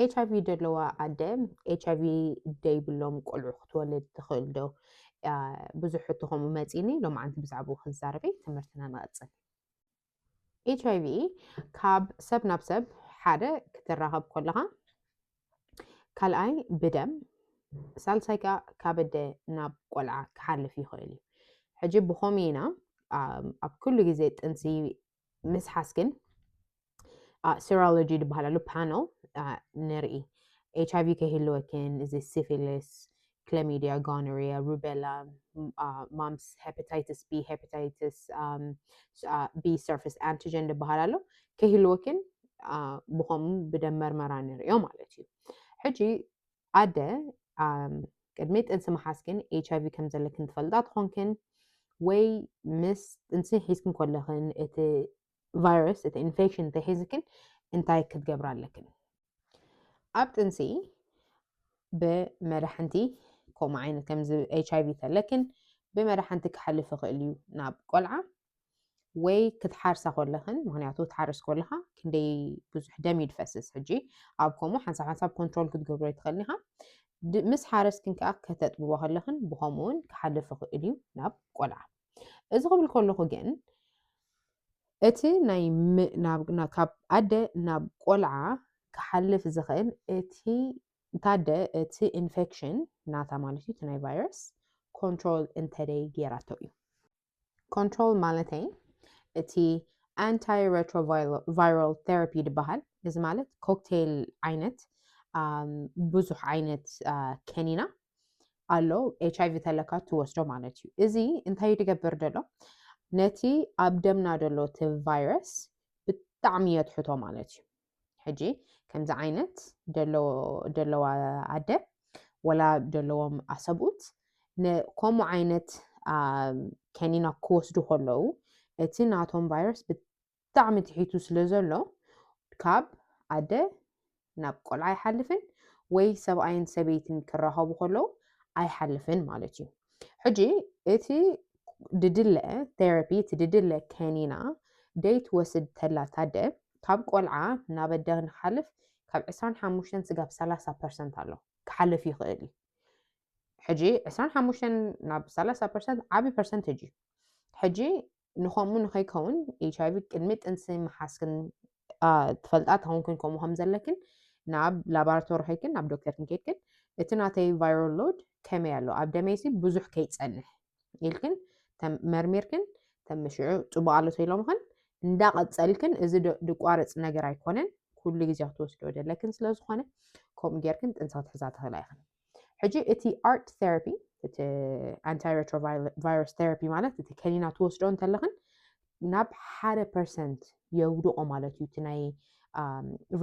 ኤች ኣይቪ ዘለዋ ኣደ ኤች ኣይቪ ደይብሎም ቆልዑ ክትወልድ ትኽእል ዶ? ብዙሕ ሕቶ ከምኡ መፂኒ ሎምዓንቲ ብዛዕባኡ ክንዛረበ ትምህርትና ንቐፅል። ኤች ኣይቪ ካብ ሰብ ናብ ሰብ ሓደ ክትራኸብ ከለኻ፣ ካልኣይ ብደም ሳልሳይ ከዓ ካብ ኣደ ናብ ቆልዓ ክሓልፍ ይኽእል እዩ። ሕጂ ብኸምኡ ኢና ኣብ ኩሉ ግዜ ጥንሲ ምስሓስ ግን ሴሮሎጂ ዝበሃል ኣሎ ፓነል ንርኢ ኤች ኣይቪ ከይህልወክን እዚ ሲፊሊስ ክለሚዲያ ጎኖሪያ ሩቤላ ማምስ ሄፓታይትስ ቢ ሄፓታይትስ ቢ ሰርፌስ ኣንቲጀን ዝበሃል ኣሎ ከይህልወክን ብከምኡ ብደም መርመራ ንሪኦ ማለት እዩ ሕጂ ኣደ ቅድሚ ጥንሲ ምሓዝክን ኤች ኣይቪ ከም ዘለክን ትፈልጣ ትኾንክን ወይ ምስ ጥንሲ ሒዝክን ኮለኽን እቲ ቫይረስ እቲ ኢንፌክሽን እንተሒዝክን እንታይ ክትገብራ ኣለክን ኣብ ጥንሲ ብመድሓንቲ ከምኡ ዓይነት ከምዚ ኤች ኣይቪ ተለክን ብመድሓንቲ ክሓልፍ ይኽእል እዩ ናብ ቆልዓ ወይ ክትሓርሳ ኮለኽን ምክንያቱ ትሓርስ ኮለኻ ክንደይ ብዙሕ ደም እዩ ዝፈስስ ሕጂ ኣብ ከምኡ ሓንሳብ ሓንሳብ ኮንትሮል ክትገብሮ ይትኽእል ኢኻ ምስ ሓረስክን ከዓ ከተጥብቦ ከለኽን ብከምኡ እውን ክሓልፍ ይኽእል እዩ ናብ ቆልዓ እዚ ክብል ከለኹ ግን እቲ ናይ ካብ ኣደ ናብ ቆልዓ ክሓልፍ ዝኽእል እቲ ታደ እቲ ኢንፌክሽን ናታ ማለት እዩ እቲ ናይ ቫይረስ ኮንትሮል እንተደይ ገይራቶ እዩ ኮንትሮል ማለተይ እቲ ኣንታይ ረትሮቫይራል ቴራፒ ድበሃል እዚ ማለት ኮክቴል ዓይነት ብዙሕ ዓይነት ከኒና ኣሎ ኤች ኣይቪ ተለካ ትወስዶ ማለት እዩ እዚ እንታይ ትገብር ደሎ ነቲ ኣብ ደምና ደሎ እቲ ቫይረስ ብጣዕሚ የትሕቶ ማለት እዩ ሕጂ ከምዚ ዓይነት ደለዋ ኣደ ወላ ደለዎም ኣሰብኡት ከምኡ ዓይነት ከኒና ክወስዱ ከለዉ እቲ ናቶም ቫይረስ ብጣዕሚ ትሒቱ ስለ ዘሎ ካብ ኣደ ናብ ቆልዓ ኣይሓልፍን ወይ ሰብኣይን ሰበይትን ክራኸቡ ከለዉ ኣይሓልፍን ማለት እዩ ሕጂ እቲ ድድለ ቴራፒ እቲ ድድለ ከኒና ደይ ትወስድ ተላ ታደ ካብ ቆልዓ ናብ ኣደ ንሓልፍ ካብ ዕስራን ሓሙሽተን ስጋብ ሰላሳ ፐርሰንት ኣሎ ክሓልፍ ይኽእል እዩ ሕጂ ዕስራን ሓሙሽተን ናብ ሰላሳ ፐርሰንት ዓብዪ ፐርሰንቴጅ እዩ ሕጂ ንኸምኡ ንኸይከውን ኤች ኣይቪ ቅድሚ ጥንሲ ምሓዝክን ትፈልጣ ተኾንክን ከምኡ ከም ዘለክን ናብ ላቦራቶሪ ከይክን ናብ ዶክተርክን ከይድክን እቲ ናተይ ቫይራል ሎድ ከመይ ኣሎ ኣብ ደመይሲ ብዙሕ ከይፀንሕ ኢልክን መርሚርክን ተምሽዑ ፅቡቅ ኣሎ ተኢሎምኽን እንዳቐፀልክን እዚ ድቋርፅ ነገር ኣይኮነን ኩሉ ግዜ ክትወስዶ ደለክን ስለዝኾነ ከምኡ ጌርክን ጥንሲ ክትሕዛ ትኽእላ ኢኽን ሕጂ እቲ ኣርት ቴራፒ እቲ ኣንታይ ሬትሮቫይረስ ቴራፒ ማለት እቲ ከኒና ትወስዶ እንተለኽን ናብ ሓደ ፐርሰንት የውድቆ ማለት እዩ እቲ ናይ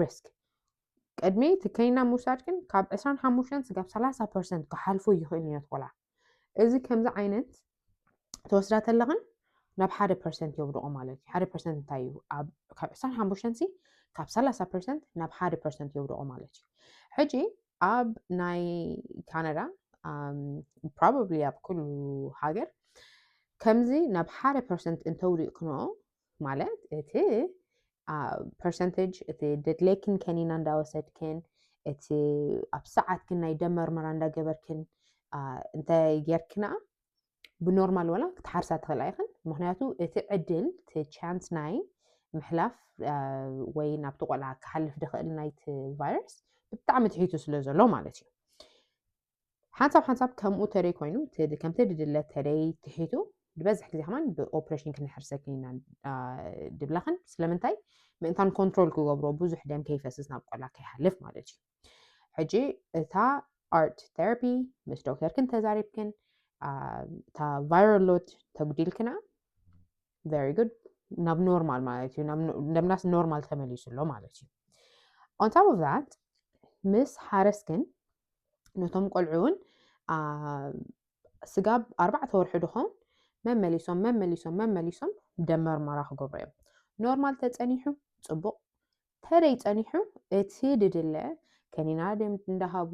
ሪስክ ቅድሚ እቲ ከኒና ምውሳድ ግን ካብ 25 ስጋብ 30 ፐርሰንት ክሓልፎ ይኽእል እዩ ነቲ ቆልዓ እዚ ከምዚ ዓይነት ተወስዳ ተለኽን ናብ ሓደ ፐርሰንት የውድቑ ማለት እዩ ሓደ ፐርሰንት እንታይ እዩ ካብ ዕስራን ሓሙሽተን ሲ ካብ ሰላሳ ፐርሰንት ናብ ሓደ ፐርሰንት የውድቑ ማለት እዩ ሕጂ ኣብ ናይ ካናዳ ፕሮባብሊ ኣብ ኩሉ ሃገር ከምዚ ናብ ሓደ ፐርሰንት እንተውዲቕክንኦ ማለት እቲ ፐርሰንቴጅ እቲ ደድሌክን ከኒና እንዳወሰድክን እቲ ኣብ ሰዓት ግን ናይ ደም መርመራ እንዳገበርክን እንተ ጌርክና ብኖርማል ወላ ክትሓርሳ ትኽእላ ኢኽን ምክንያቱ እቲ ዕድል እቲ ቻንስ ናይ ምሕላፍ ወይ ናብቲ ቆልዓ ክሓልፍ ድኽእል ናይቲ ቫይረስ ብጣዕሚ ትሒቱ ስለ ዘሎ ማለት እዩ ሓንሳብ ሓንሳብ ከምኡ ተደይ ኮይኑ ከምቲ ድድለ ተደይ ትሒቱ ዝበዝሕ ግዜ ከማን ብኦፕሬሽን ክንሕርሰኪ ኢና ድብላኽን ስለምንታይ ምእንታን ኮንትሮል ክገብሮ ብዙሕ ደም ከይፈስስ ናብ ቆላ ከይሓልፍ ማለት እዩ ሕጂ እታ ኣርት ቴራፒ ምስ ዶክተርክን ተዛሪብክን እታ ቫይሮሎት ተጉዲልክና ቨሪ ጉድ ናብ ኖርማል ማለት እዩ ደምናስ ኖርማል ተመሊሱ ኣሎ ማለት እዩ ኦን ታፕ ኦፍ ዛት ምስ ሓረስክን ነቶም ቆልዑ እውን ስጋብ ኣርባዕተ ወርሒ ድኾን መመሊሶም መመሊሶም መመሊሶም ደም መርመራ ክገብሩ እዮም ኖርማል ተፀኒሑ ፅቡቅ ተደይ ፀኒሑ እቲ ድድለ ከኒና ደም እንዳሃቡ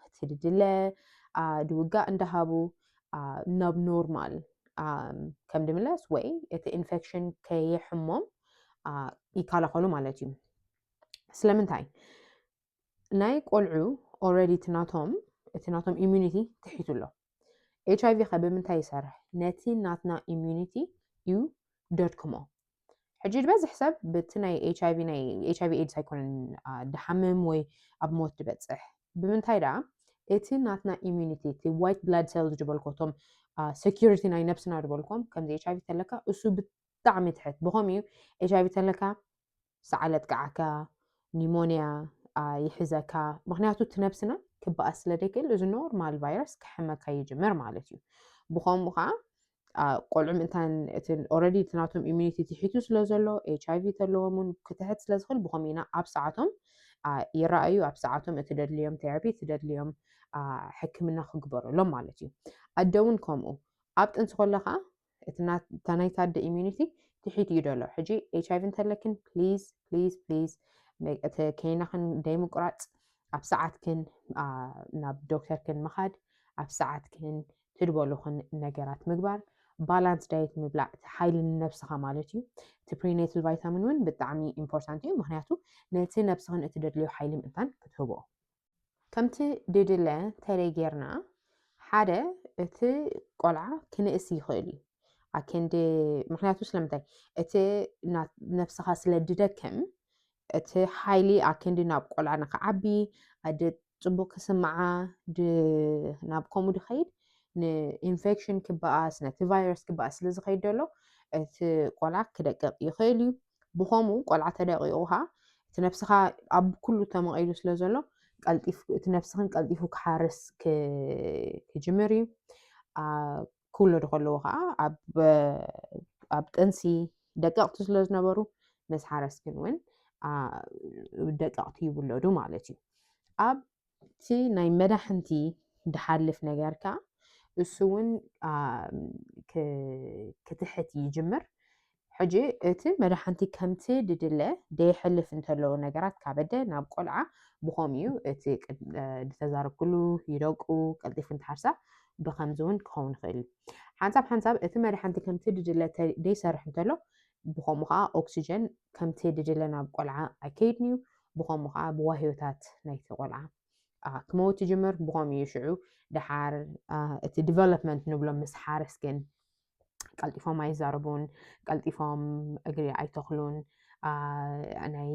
እቲ ድድለ ድውጋእ እንዳሃቡ ናብ ኖርማል ከም ድምለስ ወይ እቲ ኢንፌክሽን ከየሕሞም ይከላኸሉ ማለት እዩ ስለምንታይ ናይ ቆልዑ ኦልሬዲ እቲ ናቶም እቲ ናቶም ኢሚዩኒቲ ትሒቱ ኣሎ ኤች ኣይቪ ከ ብምንታይ ይሰርሕ ነቲ ናትና ኢሚዩኒቲ እዩ ደድክሞ ሕጂ ዝበዝሕ ሰብ በቲ ናይ ኤች ኣይቪ ናይ ኤች ኣይቪ ኤድስ ኣይኮነን ድሓምም ወይ ኣብ ሞት ድበፅሕ ብምንታይ ደኣ እቲ ናትና ኢሚዩኒቲ እቲ ዋይት ብላድ ሴልስ ዝበልኮ እቶም ሴኪሪቲ ናይ ነብስና ዝበልኮም ከምዚ ኤች ኣይቪ ተለካ እሱ ብጣዕሚ ትሕት ብኸምኡ እዩ ኤች ኣይቪ ተለካ ሰዓል የጥቅዓካ ኒሞንያ ይሕዘካ ምክንያቱ እቲ ነብስና ክበኣስ ስለ ደይክእል እዚ ኖርማል ቫይረስ ክሕመካ ይጅምር ማለት እዩ ብከምኡ ከዓ ቆልዑ ምእንታን እቲ ኦረዲ እቲ ናቶም ኢሚኒቲ ትሒቱ ስለ ዘሎ ኤች ኣይቪ ተለዎም እውን ክትሕት ስለ ዝኽእል ብከምኡ ኢና ኣብ ሰዓቶም ይረኣዩ ኣብ ሰዓቶም እቲ ደድልዮም ቴራፒ እቲ ደድልዮም ሕክምና ክግበረሎም ማለት እዩ ኣደ እውን ከምኡ ኣብ ጥንሲ ከለካ እቲ ናይቲ ኣደ ኢሚዩኒቲ ትሒት እዩ ዘሎ ሕጂ ኤች ኣይቪ እንተለክን ፕሊዝ ፕሊዝ ፕሊዝ እቲ ከይናክን ደይምቁራፅ ኣብ ሰዓትክን ናብ ዶክተርክን ምኻድ ኣብ ሰዓትክን ትድበሉክን ነገራት ምግባር ባላንስ ዳየት ምብላዕ እቲ ሓይሊ ንነብስኻ ማለት እዩ እቲ ፕሪኔትል ቫይታሚን እውን ብጣዕሚ ኢምፖርታንት እዩ ምክንያቱ ነቲ ነብስኽን እትደድልዮ ሓይሊ ምእንታን ክትህቦ ከምቲ ድድለ ተለይ ጌርና ሓደ እቲ ቆልዓ ክንእስ ይኽእል እዩ ኣከንዲ ምክንያቱ ስለምንታይ እቲ ነብስኻ ስለ ድደክም እቲ ሓይሊ ኣከንዲ ናብ ቆልዓ ንክዓቢ ኣደ ፅቡቅ ክስምዓ ናብ ከምኡ ድኸይድ ንኢንፌክሽን ክበኣስ ነቲ ቫይረስ ክበኣስ ስለ ዝኸይድ ዘሎ እቲ ቆልዓ ክደቅቕ ይኽእል እዩ ብኸምኡ ቆልዓ ተደቂቁ ከኣ እቲ ነብስኻ ኣብ ኩሉ ተመቒሉ ስለ ዘሎ ቀልጢፍ እቲ ነብስኽን ቀልጢፉ ክሓርስ ክጅምር እዩ ክውለዱ ከለዎ ከዓ ኣብ ጥንሲ ደቀቕቲ ስለ ዝነበሩ ምስ ሓረስክን እውን ደቀቕቲ ይውለዱ ማለት እዩ ኣብ እቲ ናይ መዳሕንቲ ድሓልፍ ነገር ከኣ እሱ እውን ክትሕት ይጅምር ሕጂ እቲ መድሓንቲ ከምቲ ድድለ ደየሕልፍ እንተለዉ ነገራት ካበደ ናብ ቆልዓ ብኸም እዩ እቲ ዝተዛረብኩሉ ይደቁ ቀልጢፉ እንተሓርሳ ብከምዚ እውን ክኸውን ይኽእል እዩ ሓንሳብ ሓንሳብ እቲ መድሓንቲ ከምቲ ድድለ ደይሰርሕ እንተሎ ብኸምኡ ከኣ ኦክስጀን ከምቲ ድድለ ናብ ቆልዓ ኣይከይድንዩ ብኸምኡ ከኣ ብዋህዮታት ናይቲ ቆልዓ ክመውት ይጅምር ብኸምኡ እዩ ሽዑ ድሓር እቲ ዲቨሎፕመንት ንብሎ ምስ ሓርስ ግን ቀልጢፎም ኣይዛረቡን ቀልጢፎም እግሪ ኣይተኽሉን ናይ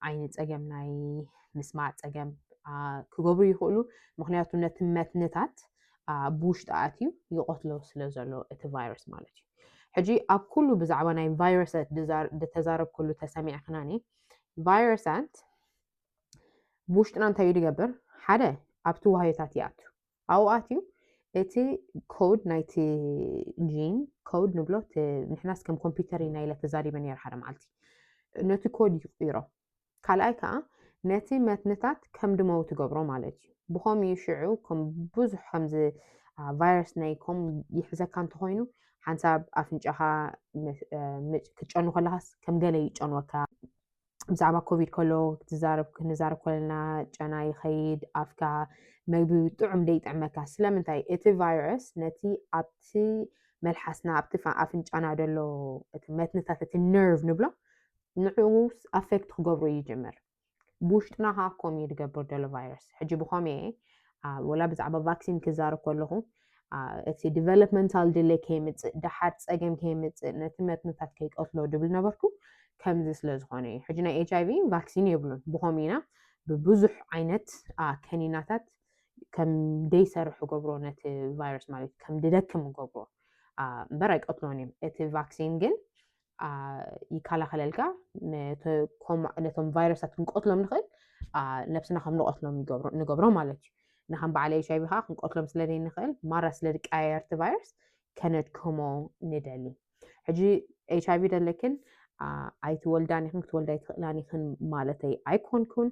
ዓይኒ ፀገም ናይ ምስማዕ ፀገም ክገብሩ ይኽእሉ ምክንያቱ ነቲ መትንታት ብውሽጢ ኣትዩ ይቐትሎ ስለ ዘሎ እቲ ቫይረስ ማለት እዩ ሕጂ ኣብ ኩሉ ብዛዕባ ናይ ቫይረሰት ድተዛረብኩሉ ተሰሚዕክናኒ ቫይረሰት ብውሽጥና እንታይ እዩ ድገብር ሓደ ኣብቲ ዋህዮታት ይኣቱ ኣብኡ ኣትዩ እቲ ኮድ ናይቲ ጂን ኮድ ንብሎ ንሕናስ ከም ኮምፒውተር ኢና ኢለ ተዛሪበ ነረ ሓደ መዓልቲ ነቲ ኮድ ይቅይሮ ካልኣይ ከኣ ነቲ መትንታት ከም ድመው ትገብሮ ማለት እዩ። ብኸም እዩ ሽዑ ከም ብዙሕ ከምዚ ቫይረስ ናይ ኮም ይሕዘካ እንተኾይኑ ሓንሳብ ኣፍንጫኻ ክትጨኑ ከለኻስ ከም ገለ ይጨንወካ ብዛዕባ ኮቪድ ከሎ ትዛረብ ክንዛረብ ከለና ጨና ይኸይድ ኣፍካ መግቢ ጥዑም ደይጥዕመካ ስለምንታይ እቲ ቫይረስ ነቲ ኣብቲ መልሓስና ኣብቲ ኣፍንጫና ደሎ እቲ መትንታት እቲ ነርቭ ንብሎ ንዕኡስ ኣፌክት ክገብሮ ይጅምር ብውሽጥና ከኣ ኮም እዩ ድገብር ደሎ ቫይረስ ሕጂ ብኮም እየ ወላ ብዛዕባ ቫክሲን ክዛረብ ከለኹ እቲ ዲቨሎፕመንታል ድሌ ከይምፅእ ደሓር ፀገም ከይምፅእ ነቲ መትንታት ከይቀትሎ ድብል ነበርኩ ከምዚ ስለ ዝኾነ እዩ ሕጂ ናይ ኤች ኣይቪ ቫክሲን የብሉን ብኮም ኢና ብብዙሕ ዓይነት ከኒናታት ከም ደይሰርሕ ገብሮ ነቲ ቫይረስ ማለት ከም ድደክም ገብሮ እምበር ኣይቀትሎን እዮም እቲ ቫክሲን ግን ይከላኸለልካ ነቶም ቫይረሳት ክንቀትሎም ንኽእል ነብስና ከም ንቐትሎም ንገብሮ ማለት እዩ ንከም በዓል ኤች ኣይቪ ከዓ ክንቀትሎም ስለ ዘይንኽእል ማራ ስለ ዝቀያየርቲ ቫይረስ ከነድክሞ ንደሊ ሕጂ ኤች ኣይቪ ደለክን ኣይትወልዳን ይኹን ክትወልዳ ኣይትኽእላን ይኽን ማለተይ ኣይኮንኩን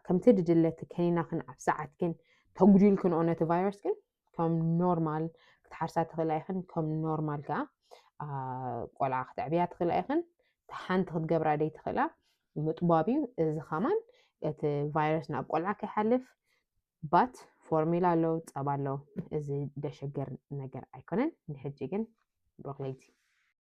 ከምቲ ድድለቲ ከኒናክን ኣብ ሰዓትክን ተጉዲልክንኦ ነቲ ቫይረስ ግን ከም ኖርማል ክትሓርሳ ትኽእላ ኢኽን ከም ኖርማል ከዓ ቆልዓ ክትዕብያ ትኽእላ ኢኽን ሓንቲ ክትገብራ ደይ ትኽእላ ምጥባብ እዩ እዚ ከማን እቲ ቫይረስ ናብ ቆልዓ ከይሓልፍ ባት ፎርሚላ ኣለዉ ፀባ ኣለዉ እዚ ደሸገር ነገር ኣይኮነን ንሕጂ ግን ብሮክለይቲ